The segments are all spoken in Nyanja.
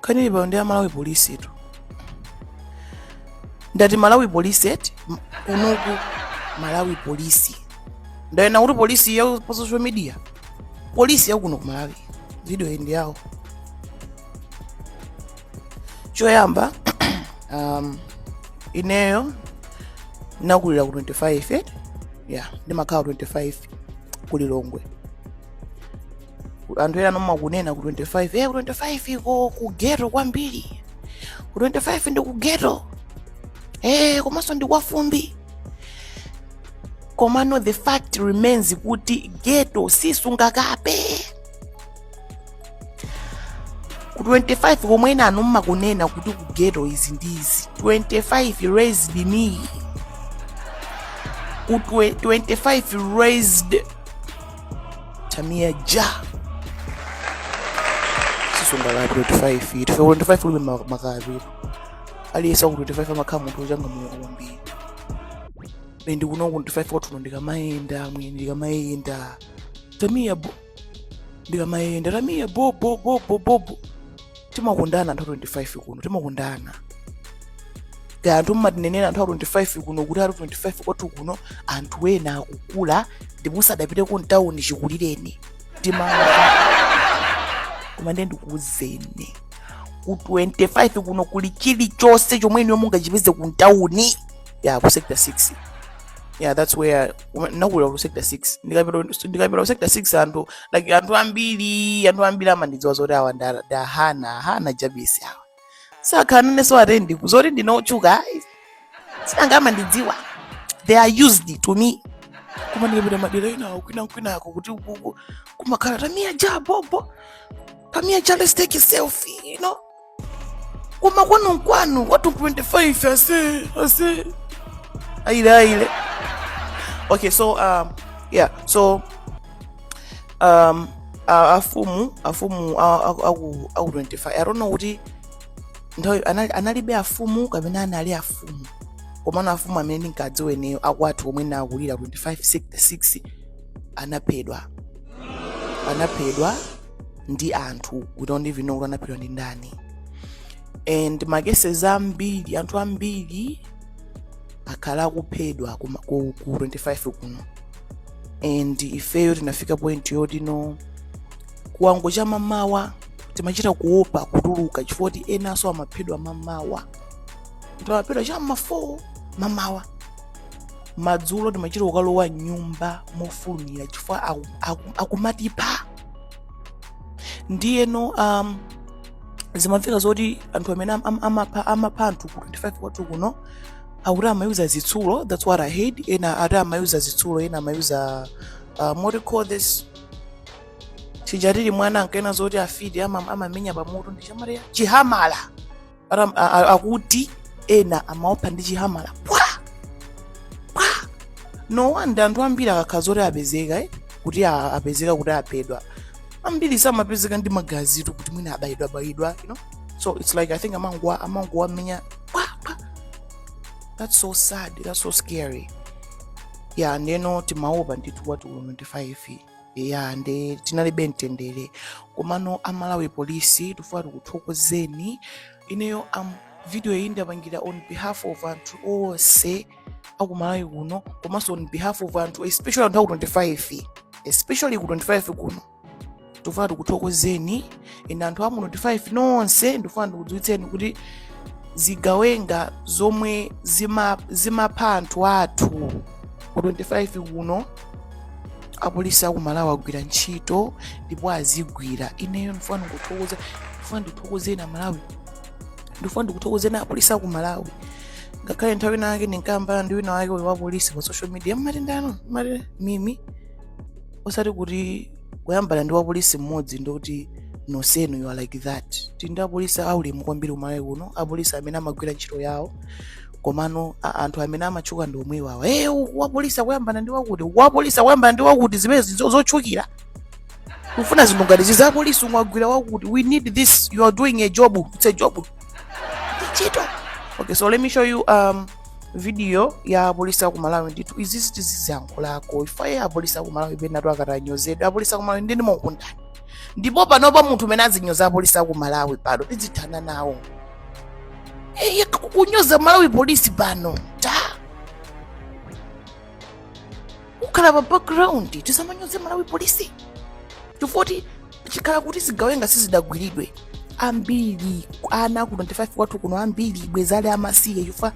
kanili pano ndi a Malawi polisi tu ndati Malawi polisi eti M- kuno ku Malawi polisi ndanena kuti polisi ya pa social media polisi yakuno ku Malawi video ndi yawo choyamba um, ineyo nakulira ku 25 eh? ya ndimakhala 25 ku Lilongwe anthu enanu mmakunena ku 25 eh, ku 25 iko ku ghetto kwambiri ku 25 ndi ku ghetto eh, komanso ndi kwa fumbi komano the fact remains kuti ghetto sisungakape ku 25 komwe enanu mmakunena kuti ku ghetto izi ndi izi 25 raised me ku twe- 25 raised Tamia Ja. Sisi ndo la 25 hii. Tufe 25 ule ma- makazi. Aliyesa ku 25 amakhamu muntu changa mu kwambiri. Ine ndikuno ku 25 kwathu ndikamayenda, mwini ndikamayenda. Tamia bo. Ndikamayenda, Tamia bo bo bo bo bo. bo. timakondana anthu a 25 kuno timakondana kaya anthu mmatinenera anthu a 25 kuno kuti ati 25 kwathu kuno anthu ena akukula ndipo sadapiteko mtawuni chikulireni tima koma ndiye ndikuuzeni ku 25 kuno kuli chilichonse chomwe inuyo mungachipeze ku mtawuni ya ku sector 6 yeah that's where Uma- ndinakulira ku sector 6 ndikapita ndikapita ku sector 6 anthu like anthu ambiri anthu ambiri amandidziwa zoti awa nda nda hana hana jabisi awa sakhanane so atenge zoti ndine otchuka ayi sinanga amandidziwa they are used to me koma ndikapita madera enawo kwina kwinako kuti ukuku kumakhala Tamia Ja bobo Tamia Ja let's take a selfie you know koma kwanu nkwanu kwathu 25 ase ase aile aile okay so um, yeah so um, a- afumu afumu a- a- aku aku 25 i don't know kuti nthawi anali- analibe afumu kapena anali afumu komano afumu amene ndinkadziwa ineyo akwathu omwe nakulira 25 6 anaphedwa anaphedwa ndi anthu we don't even know kuti anaphedwa ndi ndani and makeses ambiri anthu ambiri akhala akuphedwa ku, ku, ku 25 kuno and ifeyo tinafika point yoti no kuwonga cha mamawa timachita kuopa kutuluka chifukwa kuti enanso amaphedwa mamawa amaphedwa cha ma 4 mamawa madzulo timachita kukalowa mnyumba mofulumira chifukwa aku- aku- akumatipha ndiye no um, zimamveka zoti anthu amene am- am- amapha amapha anthu ku 25 kwathu kuno akuti amayuza zitsulo that's what i heard ena ati amayuza zitsulo ena amayuza um, what do you call this chija tili mwana ankanena zoti afiti ama- amamenya pamutu ndi chamatiani chihamala Ram- a- a- akuti ena amaopha ndi chihamala pwa pwa no wonder anthu ambiri akakhala zoti apezeka eh, kuti a- apezeka kuti aphedwa ambiri samapezeka ndi magazitu kuti mwina abayidwa bayidwa you know so it's like i think amangowa amangowamenya pwa pwa that's so sad that's so scary ya ndeno timaopa ndithu kwathu kuno 25 ya nde tinalibe mtendere komano amalawi polisi tifuna tikuthokozeni ineyo am video iyi ndapangira on behalf of anthu onse akumalawi kuno komanso on behalf of anthu especially anthu aku 25 especially ku 25 kuno tifuna tikuthokozeni ine anthu amu 25 nonse ndifuna ndikudziwitseni kuti zigawenga zomwe zima- zimapha anthu athu ku 25 kuno apolisi aku malawi agwira ntchito ndipo azigwira ineyo ndifuna ndikuthokoza ndifuna ndithokozeni amalawi ndifuna ndikuthokozeni apolisi aku malawi ngakhale nthawi ina yake ndinkayambana ndi wina wake uyu wa polisi pa social media mmatendano mmati mimi osati kuti kuyambana ndi wapolisi mmodzi ndikuti nonsenu you are like that tili ndi apolisi aulemu kwambiri kumalawi kuno apolisi amene amagwira ntchito yawo komano a- anthu amene amatchuka ndi omwe iwawa e wapolisi akuyambana ndi wakuti wapolisi akuyambana ndi wakuti zimene zo- zotchukira kufuna zinthu ngati zizi apolisi mwagwira wakuti we need this you are doing a job it's a job ntchito okay so let me show you um, video ya apolisi aku malawi ndithu izizi tiziziyankhulako ife a- apolisi aku malawi penatu akamanyozedwa apolisi aku malawi ndini mokundani ndipo panopa munthu umene azinyoza apolisi aku malawi pano tidzithana nawo eye kunyoza malawi polisi pano takukhala pa background tisamanyoze malawi polisi chifukwa choti chikhala kuti zigawenga sizidagwiridwe ambiri ana ku 25 kwathu kuno ambiri bwenzi ali amasiye chifukwa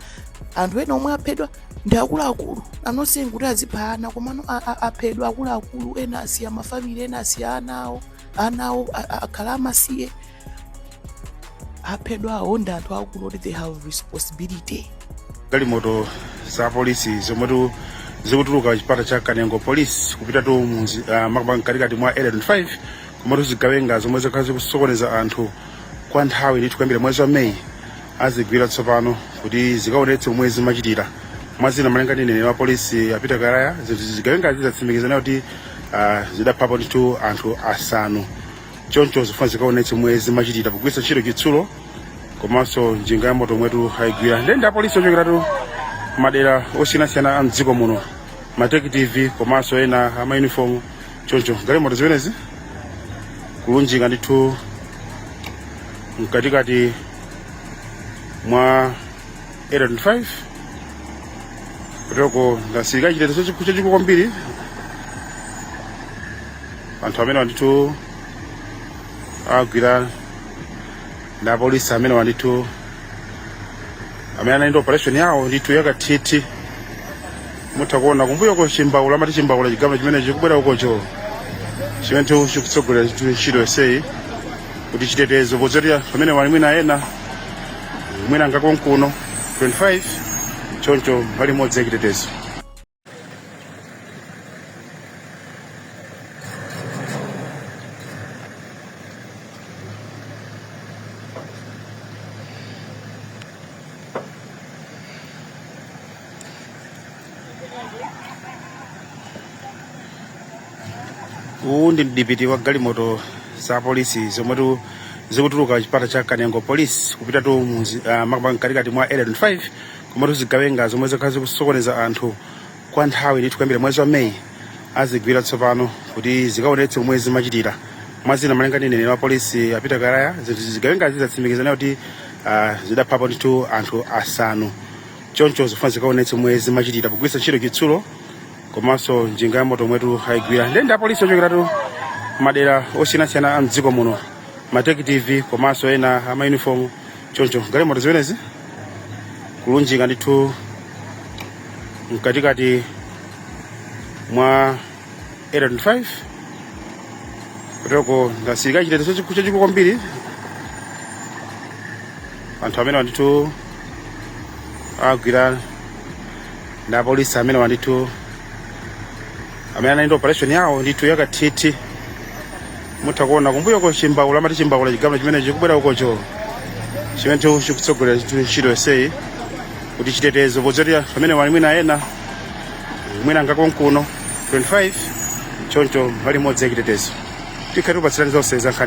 anthu ena omwe aphedwa ndi akuluakulu osanena kuti azipha ana komano a- a- aphedwa akuluakulu ena asiya mafamili ena asiya ana awo ana awo a- a- akhala amasiye aphedwa awo ndi anthu akulu oti they have responsibility galimoto za polisi zomwetu zikutuluka chipata cha kanengo polisi kupitatu mmudzi uh, makamaka mkatikati mwa area 25 komatu zigawenga zomwe zakhala zikusokoneza anthu kwa nthawi ndithu kuyambira mwezi wa meyi azigwira tsopano kuti zikaonetse momwe zimachitira mwa zina malinga ndi mneneri wa polisi a Peter Kalaya zinthu zigawenga zizatsimikiza nayo kuti uh, zidaphapo ndithu anthu asanu choncho zifuna zikaonetse momwe zimachitira pogwiritsa ntchito chitsulo komanso njinga ya moto omwetu ayigwira nde ndi apolisi ochokeratu madera osiyanasiyana a mdziko muno matekitivi komanso ena amayunifomu choncho galimoto zimenezi kulunjika ndithu mkatikati mwa area 25 kutoko ndasirika chitetezo chachikulu kwambiri anthu amenewa ndithu agwira ndi apolisi amenewa ndithu amene anali ndi operation yawo ndithu yakathithi mutha kuona kumbuyoko chimbaula amati chimbaula chigalimoto chimene chikubwera ukocho chimenetu chikutsogolera chitu- ntchito yonseyi kuti chitetezo podzoti anthu amenewa ali mwina ena mwina nga konkuno 25 choncho mbali imodzi ya chitetezo uwu ndi mdipiti wa galimoto za polisi zomwetu zikutuluka chipata cha kanengo polisi kupitatu makamaka mkatikati mwa area 25 komatu zigawenga zomwe zakhala zikusokoneza anthu kwa nthawi ndithu kuyambira mwezi wa meyi azigwira tsopano kuti zikaonetse momwe zimachitira mwa zina malinga ndi mneneri wa polisi a peter kalaya ndithu zigawengazi zatsimikiza nayo kuti ah, zidaphapo ndithu anthu asanu choncho zifuna zikaonetse momwe zimachitira pogwiritsa ntchito chitsulo komanso njinga ya moto omwetu ayigwira nde ndi apolisi ochokeratu madera osiyanasiyana a mdziko muno matekitivi komanso ena amayunifomu choncho galimoto zimenezi kulunjika ndithu mkatikati mwa area 25 kutoko ndasirika chitetezo chachiku- chachikulu kwambiri anthu amenewa ndithu agwira ndi apolisi amenewa ndithu amene anali ndi operation yawo ndithu yakathithi mutha kuona kumbuyoko chimbaula amati chimbaula chigalimoto chimene chikubwera ukocho chimenetu chikutsogolera chitu- ntchito yonseyi kuti chitetezo podzoti anthu amenewa ali mwina ena mwina nga konkuno 25 choncho mbali imodzi ya chitetezo tikhala tikupatsirani zonse za nkhani